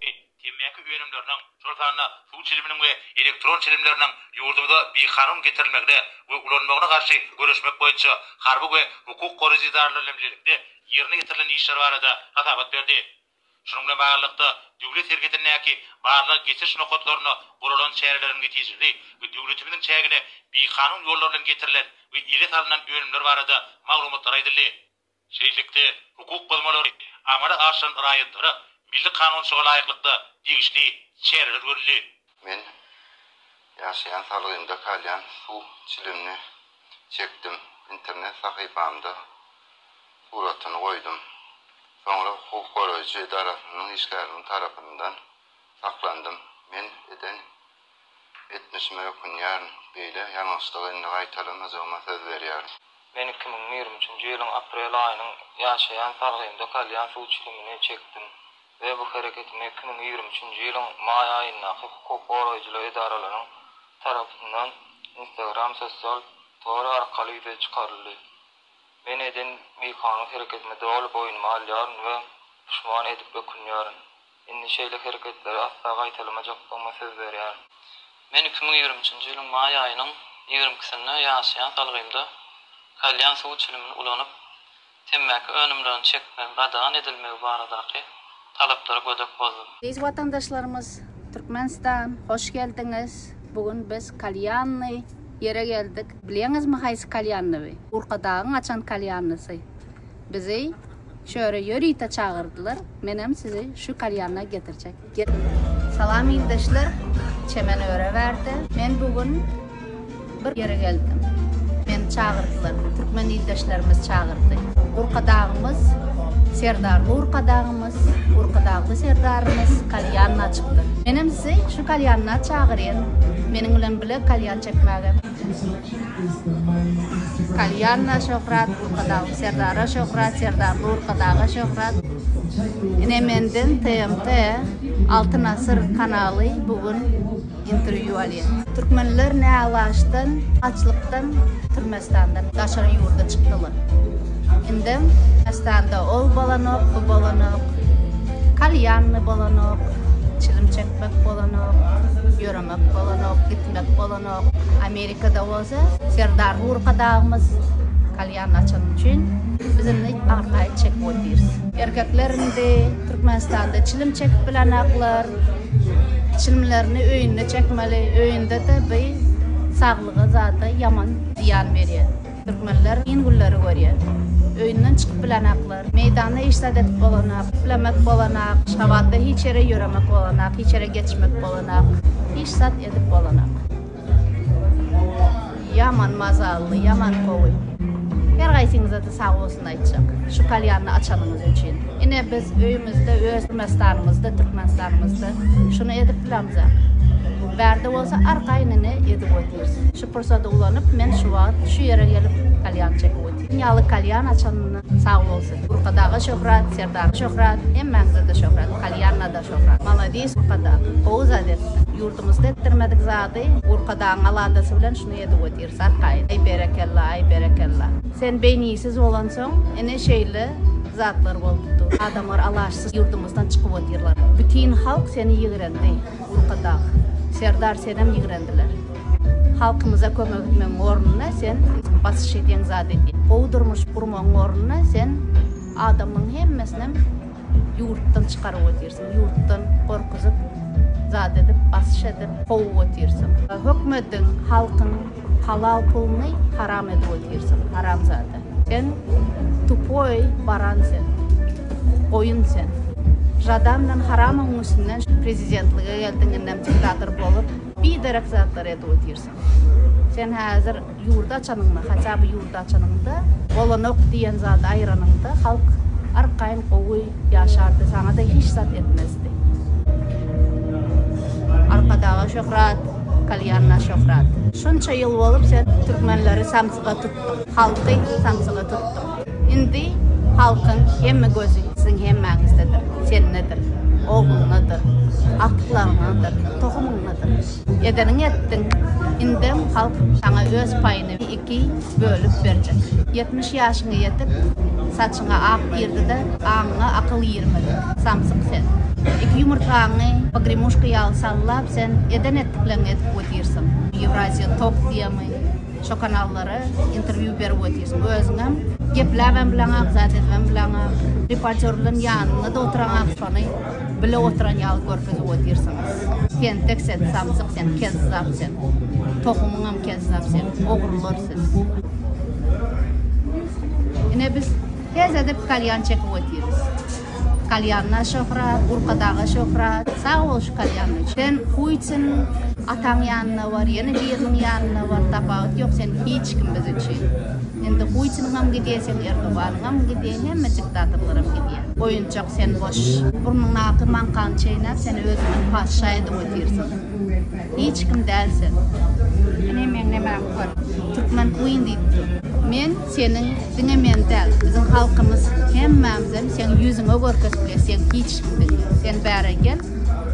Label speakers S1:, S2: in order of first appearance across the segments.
S1: Men temmäki önümleriniň, şol sanda suw çiliminiň we elektron çilimleriniň ýurdumyza bikanun getirilmegine we ulanmagyna garşy göreşmek boýunça harby we hukuk goraýjy edaralar bilen bilelikde ýerine ýetirilen işler barada hasabat berdi. Şunuň bilen baglylykda, döwlet serhetindäki barlag geçiriş nokatlarynda guralan çäreleriň netijeli we döwletimiziň çägine bikanun ýollar bilen getirilen we ele salnan önümler barada maglumatlar aýdyldy. Şeýlelikde, hukuk bozmalary amala aşyran raýatlara milli kanunçylyga laýyklykda degişli çäreler görüldi. Men
S2: ýaşaýan salgymda kalýan suw çilimini çekdim, internet sahypamda suratyny goýdum. Soňra hukuk goraýjy edarasynyň işgäriniň tarapyndan saklandym. Men eden Etmişime ökünýärin. Beýle ýalňyşlygy indi gaýtalamajagma söz berýärin. Men iki müň
S3: ýigrimi üçünji ýylyň aprel aýynyň ýaşaýan salgymda kalýan suw çilimini çekdim we bu hereketimi iki müň ýigrimi üçünji ýylyň maý aýyndaky hukuk goraýjylyk edaralaryň tarapyndan Instagram sosial tory arkaly ýüze çykaryldy. Men eden bikanun hereketimi doly boýnuma alýaryn we puşman edip ökünýärin. Indi şeýle hereketleri asla gaýtalamajakdygyma söz berýärin. Men iki müň ýigrimi üçünji ýylyň maý aýynyň ýigrimi ikisinde ýaşaýan salgymda kalýan suw çilimini ulanyp, temmäki önümlerini çekmegiň gadagan edilmegi baradaky talaplara gödek bozdum. Eziz watandaşlarymyz,
S4: Türkmenistan, hoş geldiňiz! Bu gün biz kalýanly ýere geldik. Bilýäňizmi haýsy kalýanly bu? Urkadagyň açan kalýanlysy. Bizi çöre ýörite çagyrdylar, menem sizi şu kalýana getirjek. Salam ildeşler, çemen öre bärde. Men bu gün bir ýere geldim. Meni çagyrdylar, türkmen ildeşlerimiz çagyrdy. Urkadagymyz, Serdarly Urkadagymyz, Urkadagly Serdarymyz kalýan açypdyr. Menem sizi şu kalýana çagyrýan, meniň bilen bile kalýan çekmäge. Kalýanna şöhrat, Burkadagyň Serdara şöhrat, Serdar Burkadaga şöhrat. Ine menden TMT Altyn Asyr kanaly bu gün interwýu alýar. Türkmenler näalaşdan, açlykdan Türmestandan daşary ýurda çykdylar. Indem Türmestanda ol bolanok, bu bolanok, kalýanny bolanok, çilim çekmek bolanok. Gitmek bolanok, gitmek bolanok. Amerikada bolsa Serdar Urka dagymyz kalýan açan üçin biz indi arkaýy çekip otyrys. Erkekler indi Türkmenistanda çilim çekip bilenaklar. Çilimlerini öýünde çekmeli, öýünde-de bu saglyga zada ýaman zyýan berýär. Türkmenler kyn günleri görýär. Öýünden çykyp bilenaklar. Meýdanda iş zat edip bolanak, islemek bolanak. Şabatda hiç ýere ýöremek bolanak, hiç ýere geçmek bolanak. Hiç zat edip bolanak. Ýaman mazally, ýaman gowy. Her gaýsyňyza-da sag bolsun aýtjak. Şu kalýanny açanyňyz üçin. Ine biz öýümizde, öz Türkmenistanymyzda, Türkmenistanymyzda şuny edip bilemzak. Bärde bolsa arkaýynyny edip otyrs. Pursady ulanyp, men şu wagt şu ýere gelip kalýan çekip otyryn. Ýaly kalýan açanyna sag bolsun. Burkadaga şöhrat, Serdara şöhrat, hemmäňize-de şöhrat, kalýana-da şöhrat. Maladis Burkadag. Gowy zat etdiň. Ýurdumyzda etdirmedik zady Burkadagyň aladasy bilen şuny edip otyrys arkaýyn. Aý berekella, aý berekella. Sen beýnisiz bolansoň, ine şeýle zatlar bolup dur. Adamlar alaçsyz ýurdumyzdan çykyp otyrlar. Bütin halk seni ýigrendi, Burkadag. Serdar senem ýigrendiler. Halkymyza kömek etmegiň ornuna sen basyş edýän zat edýäň. Gowy durmuş gurmagyň ornuna sen adamlaryň hemmesinem ýurtdan çykaryp otyrsyň, ýurtdan gorkuzyp zat edip basyş edip kowup otyrsyň. Hökmediň, halkyň halal puluny haram edip otyrsyň, haramzada. Sen tupoý baran sen, goýun sen. Žadan bilen haramyň ünsünden prezidentlige geldiň indem diktator bolup. Biderek zatlar edip otyrsyň. Sen häzir ýurdy açanyňda, haça by ýurdy açanyňda, bolanok diýen zady aýyranyňda halk arkaýyn gowy ýaşardy, saňa-da hiç zat etmezdi. Arkadaga şöhrat, kalýanna şöhrat. Şunça ýyl bolup sen türkmenleri samsyga tutdyň, halky samsyga tutdyň. Indi halkyň hemme gözi siziň hemmäňizdedir, sendedir, ogluňdadyr, agtyklaryňdadyr, tohumyňdadyr. Edeniňi etdiň, indem halk saňa öz paýyny iki bölüp berjek. Ýetmiş ýaşyňa ýetip, saçyňa ak girdi-de, aňyňa akyl girmedi. Samsyk sen. Iki ýumurtgaňy pogrimuşka ýaly sallap, sen eden-etdikleňi edip otyrsyn. Ýewraziýa tok diýemi? Şo kanallara intervýu berip otyrsyň özüňem gepläbem bileňak zat edibem bileňak reportýorlaň ýanynda-da oturaňak şony bile oturan ýaly görkezip otyrsyňyz tentek sen samsyk sen kezzap sen tohumyňam kezzap sen ogrular siz ine biz hezede kalýan çekip otyrys. Kalýanna şöhrat, Gurkadaga şöhrat. Sag bol şu kalýanyň üçin. Sen Putin, ataň ýanyna bar, ýene biriniň ýanyna bar, tapawut ýok, sen hiç kim biz üçin. Indi Putiniňem gidýär, seň Erdoganyňam gidýär, hemme diktatorlaram gidýär. Oýunjak sen boş. Burnuňdaky maňkany çeýnäp, sen özüňem patyşa edip otyrsyň. Hiç kim däl sen. Sen hemmeň nemäň bar. Türkmen queen diýip dur. Men. Seniň diňe men däl, biziň halkymyz hemmämizem seň ýüzüňe görkezip biler, sen hiç kim diňe. Sen bäre gel,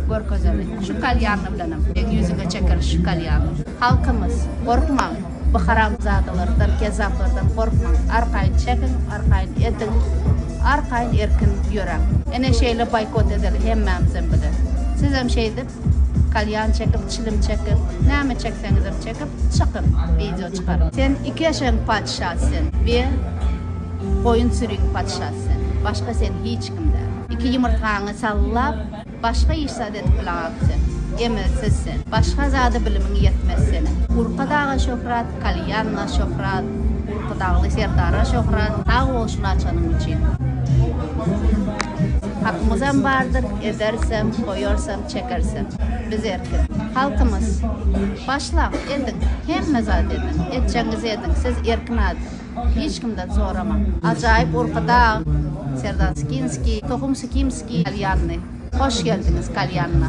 S4: görkezeli. Şu kalýanly bilenem seň ýüzüňe çekeli şu kalýanly. Halkymyz, gorkmaň bu haramzadalardan, kezzaplardan gorkmaň. Arkaýyn çekiň, arkaýyn ediň, arkaýyn erkin ýöräň. Ene şeýle boýkot edeli hemmämizem bile. Sizem şeýdip, Kalýan çekip, çilim çekip, Näme çekseňizem çekip, çykyň, wideo çykaryň. Sen iki eşegiň patyşasy sen we goýun süriň patyşasy sen. Başga sen hiç kim däl. Iki ýumurtgaňy sallap, başga iş zat edip bilaňok sen. Emelsiz sen. Başga zada bilimiň ýetmez seniň. Urka daga şöhrat, Kalýanna şöhrat, Urkudagly Serdara şöhrat. Sag bol şuny açanyň üçin. Hakymyzam bardyr, edersem, goýarsam, çekersem. Biz erkin. Halkymyz. Başlaň, ediň. Hemme zat ediň. Etjegiňizi ediň. Siz erkin adam. Hiç kimden soramaň. Ajaýyp Urkudag, Serdar Skinskiý, Tohum Sikimskiý, Kalýanny. Hoş geldiňiz, Kalýanna.